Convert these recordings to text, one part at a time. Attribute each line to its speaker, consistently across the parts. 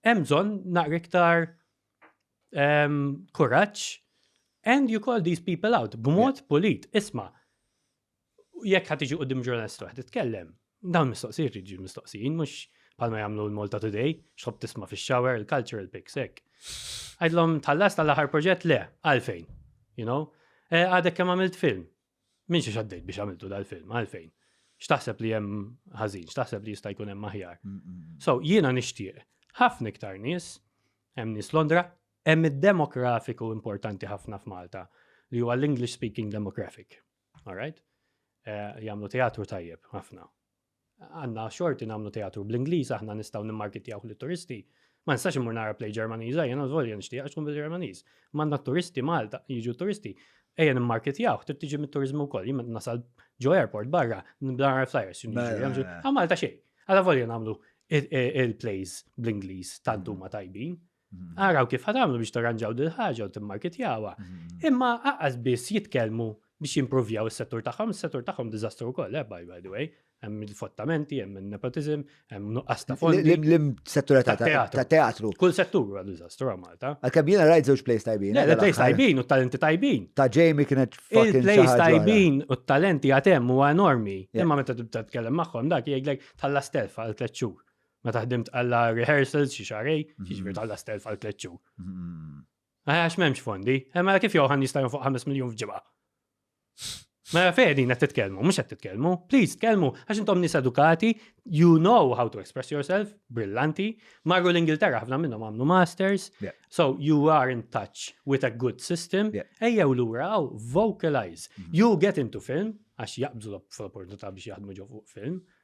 Speaker 1: hemm bżonn naqra iktar ehm, kuraġġ and you call these people out b'mod pulit. Isma' jekk ħad tiġi qudiem ġurnalist waħd titkellem, dawn mistoqsijiet jiġu mistoqsijin mhux bħalma jagħmlu l-Malta Today, xħob tisma' fix-shower il-cultural pics hekk. Għidlhom tħallas tal-aħħar proġett le, għalfejn, you know? Eh, għadek kemm għamilt film, Min xi xaddejt biex għamiltu dal-film, għalfejn? X'taħseb li hemm ħażin, x'taħseb li jista' jkun hemm aħjar. Mm, mm, mm. So jiena nixtieq ħafna iktar nies, hemm nies Londra, hemm id-demografiku importanti ħafna f'Malta li huwa l-English speaking demographic. All right? Eh, jagħmlu teatru tajjeb ħafna. Għandna xorti nagħmlu teatru bl-Ingliż aħna nistgħu nimmarkitjawh lit-turisti. Ma nistax immur nara play Ġermaniża jiena żvolja nixtieq għax tkun bil-Ġermaniż. Ma għandna t-turisti Malta, jiġu t-turisti. Ejja nimmarkitjawh, trid tiġi mit-turiżmu wkoll. Jien meta nasal ġo airport barra, nibda nara l-flyers x'inhu jiġri hemm xi. Għal Malta xejn. Għala volja nagħmlu il-plays bl-Ingliż tant huma tajbin. Araw kif ħatamlu biex tarranġaw dil ħaġa u timmarketjawha. Imma aqqas biss jitkellmu biex jimprovjaw is-settur tagħhom, is-settur tagħhom diżastru wkoll, eh, by the way. Hemm il-fottamenti, hemm il-nepotizm, hemm nuqqas ta' fondi. L-settur
Speaker 2: ta' teatru. Kull settur huwa diżastru
Speaker 1: għal Malta. Għalkemm jiena rajt żewġ plays
Speaker 2: tajbin. Le, plays tajbin u talenti
Speaker 1: tajbin. Ta' Jamie kienet
Speaker 2: fucking plays tajbin
Speaker 1: u talenti għatem huwa enormi. Imma meta tibda tkellem magħhom dak jgħidlek tħallas telfa għal tliet xhur. Meta ħdimt għalla rehearsals xi xarej, mhm. xi ġbir għalla stelf għal tliet xhur. Mhm. Għax m'hemmx fondi, eh, mela kif joħan jista' fuq 5 miljun f'ġibha. Mela fejn qed titkellmu, mhux qed titkellmu, please tkellmu għax intom nies edukati, you know how to express yourself, brillanti, marru l-Ingilterra ħafna minnhom għamlu masters, so you are in touch with a good system, ejjew lura għaw vocalize. Mhm. You get into film, għax jaqbżu l-opportunità biex jaħdmu ġo fuq film,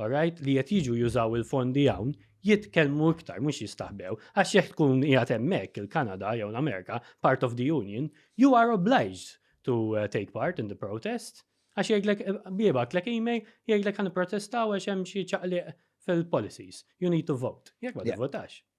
Speaker 1: Alright, li qed jiġu jużaw il-fondi hawn jitkellmu iktar mhux jistaħbew għax jekk tkun qiegħed hemmhekk il-Kanada jew l-Amerika part of the union you are obliged to eh, take part in the protest għax jgħidlek eh, bibak lek email jgħidlek ħan protestaw għax hemm xi ċaqliq fil-policies. You need to vote. Jekk ma tivvotax.